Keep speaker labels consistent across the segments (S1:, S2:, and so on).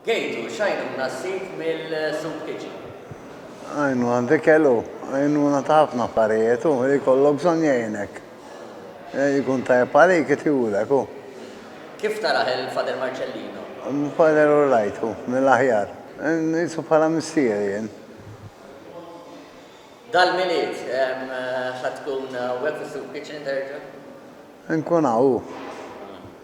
S1: Gejtu, x'għajnuna ssib mill-soup kitchen? Għajnuna
S2: t'Ikel hu għajnuna ta' ħafna affarijiet, hu li jkollok bżonn jgħinek. Jkun tajjeb għalik itihulek hu. Kif
S1: tarah il-Father Marcellino? Father all
S2: right hu, mill-aħjar. Nqisu bħala missieri jien.
S1: Dal-Milied, ħa tkun hawnhekk fis-Soup Kitchen terġa'? Inkun
S2: hawn, hu.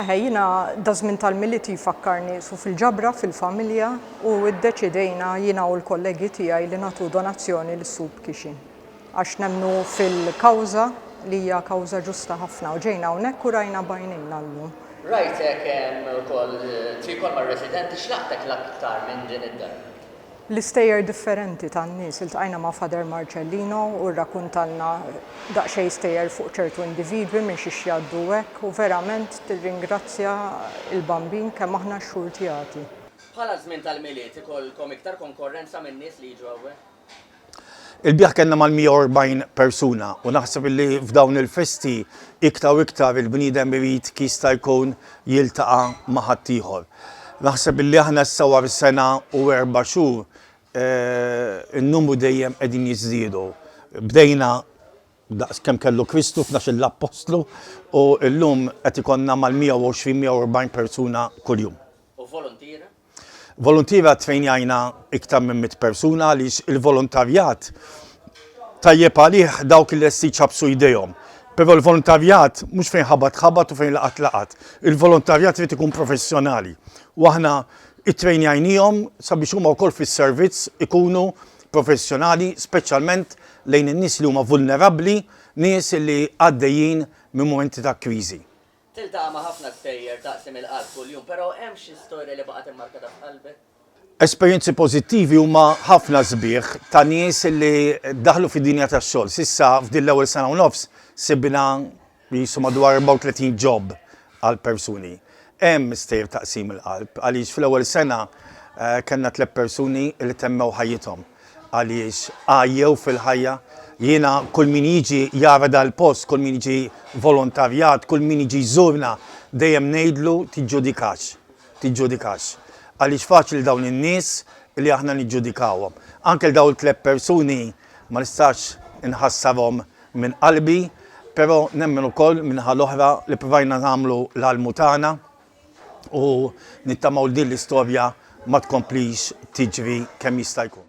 S2: Eħe,
S3: jiena daż-żmien tal-Milied jfakkarni su fil-ġabra fil-familja u ddeċidejna jiena u l-kollegi tiegħi li nagħtu donazzjoni lis-Soup Kitchen. Għax nemmnu fil-kawża li hija kawża ġusta ħafna u ġejna hawnhekk u rajna b'għajnejna llum. Rajtek
S1: ukoll tirkol mar-residenti, x'laqtek l-aktar minn din id-dar? l-istejjer
S3: differenti tan-nies. Iltqajna ma' Father Marcellino u rrakuntalna daqsxejn stejjer fuq ċertu individwi minn xiex jgħaddu u hekk u verament tirringrazzja l-Bambin kemm aħna xxurtjati. Bħala ż-żmien
S1: tal-Milied ikollkom iktar konkorrenza minn nies li jiġu hawnhekk? Ilbieraħ
S4: kellna mal-140 persuna u naħseb li f'dawn il-festi iktar u iktar il-bniedem irid kif jista' jkun jiltaqa' ma' ħaddieħor. Naħseb illi aħna issa wara sena u erba' xhur n-numru dejjem qegħdin jiżdiedu. Bdejna daqs kemm kellu Kristu f'tnax-il appostlu u llum qed ikollna mal-120, 140 persuna kuljum. U voluntiera?
S1: Voluntiera
S4: ttrejnjajna iktar minn mitt persuna għaliex il-volontarjat tajjeb għalih dawk li lesti jċappsu jdejhom. Però l-voluntarjat mhux fejn ħabat ħabat u fejn laqat laqat. Il-voluntarjat irid ikun professjonali u aħna ttrejnjajniehom sabiex huma wkoll fis-servizz ikunu professjonali speċjalment lejn in-nies li huma vulnerabbli, nies li għaddejjin minn mumenti ta' kriżi. Tiltaqa' ma' ħafna
S1: stejjer taqsim il-qalb kuljum, però hemm xi storja li baqgħet immarkata f'qalbek? Esperjenzi
S4: pożittivi huma ħafna sbieħ ta' nies li daħlu fid-dinja tax-xogħol. S'issa f'din l-ewwel sena u nofs sibna qisu madwar 34 job għal persuni. Hemm stejjer taqsim il-qalb għaliex fl-ewwel sena kellna tliet persuni li temmew ħajjithom. Għaliex għajjew fil-ħajja. Jiena kull min jiġi jara dal-post, kull min jiġi volontarjat, kull min jiġi jżurna, dejjem ngħidlu tiġġudikax. Tiġġudikax. Għaliex faċli 'l dawn in-nies li aħna niġġudikawhom. Anke 'l dawn it-tliet persuni ma nistax inħassarhom minn qalbi, però nemmen ukoll min-naħa l-oħra li provajna nagħmlu l-almu tagħna. u nittamaw li din l-istorja ma tkomplix tiġri kemm jista' jkun.